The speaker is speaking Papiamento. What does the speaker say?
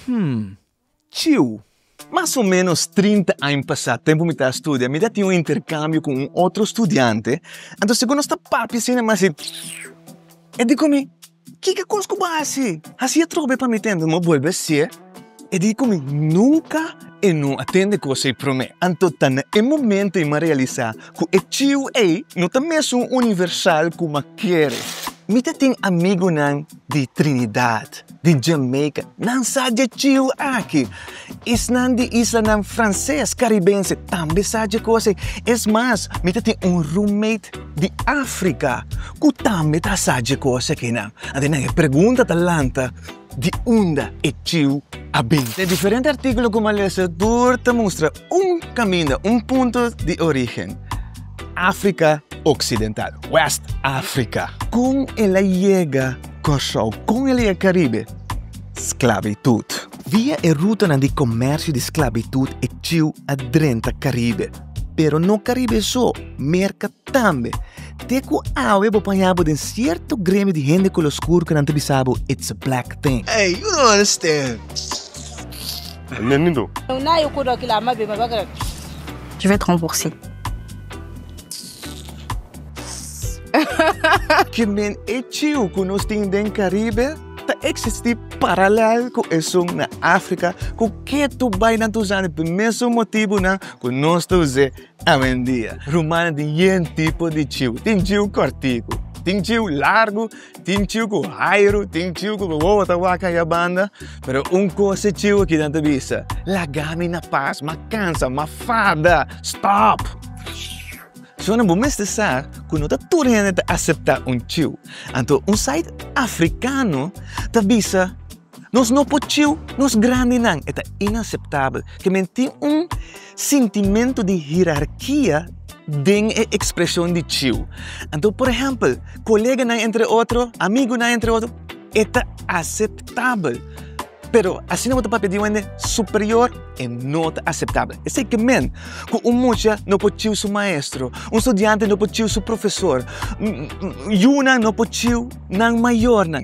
Hum. Ciu! Mas o ménos trinta aña pasá, tempu mi ta a studia, mi ta tin un interkambio ku un otro studiante. Anto segun nos ta papia asina mas e e diko mi, Kiko kos ku bo a hasi? Hasi atrobe pa mi te. Anto mi a bolbe a hasié. E diko mi, Nunka e no a tende kos ei promé. Anto ta na e momento ei mi a realisá ku e ciu ei no ta mesun universal kuma kere. Mi ta tin amigunan. di Trinidad, di Jamaica, nan sa dje chiu aki. Esnan di islanan franses karibense tambe sa dje kos ei. Es mas, mi ta tin un roommate di Afrika ku tambe ta sa dje kos akinan. Anto nan e pregunta ta lanta, Di unda e chiu a bin? Na e diferente artíkulo ku mi a lesa, tur ta mustra. un kaminda, un punto di origen, Afrika oksidental, West Afrika. Kon el a yega Kòrsou? Kon el a yega Karibe? Sklabitut. Via e rutanan di komèrsio di sklabitut e chiu a drenta Karibe. Pero no Karibe so, Merka tambe. Te ku awe bo paña bo den sierto gremio di hende kolor skur ku nan ta bisa bo it's a black thing. Ey, u no understand. Ki men e ciu ku nos tin den Karibe ta eksistí paralèl ku esun na Afrika ku ke tu bai na dus ane p'e mesun motibunan ku nos ta us'é. Awendia, rumannan tin yen tipo di ciu. Tin ciu kòrtiku, tin ciu largu, tin ciu ku hairu, tin ciu ku wowowo ta wak kan ya banda. Pero un kos e ciu aki nan ta bisa, Laga mi na pas, m'a kansa, m'a fada! Stòp! Shona bo mester sa ku no ta tur hende ta aseptá un ciu. Anto un site afrikano ta bisa. Nos no por ciu nos grandinan. E ta inaseptabel cu men tin un sintimentu di hierarkia den e expresion di ciu. Anto, por ehempel, coleganan entre otro, amigunan entre otro, e ta aceptabel. Pero asina bo ta papia di un hende superior, e no ta aceptabel. Esei cu men, cu un mucha no por ciu su maestro, un studiante no por ciu su profesor, yunan no por ciu nan mayornan.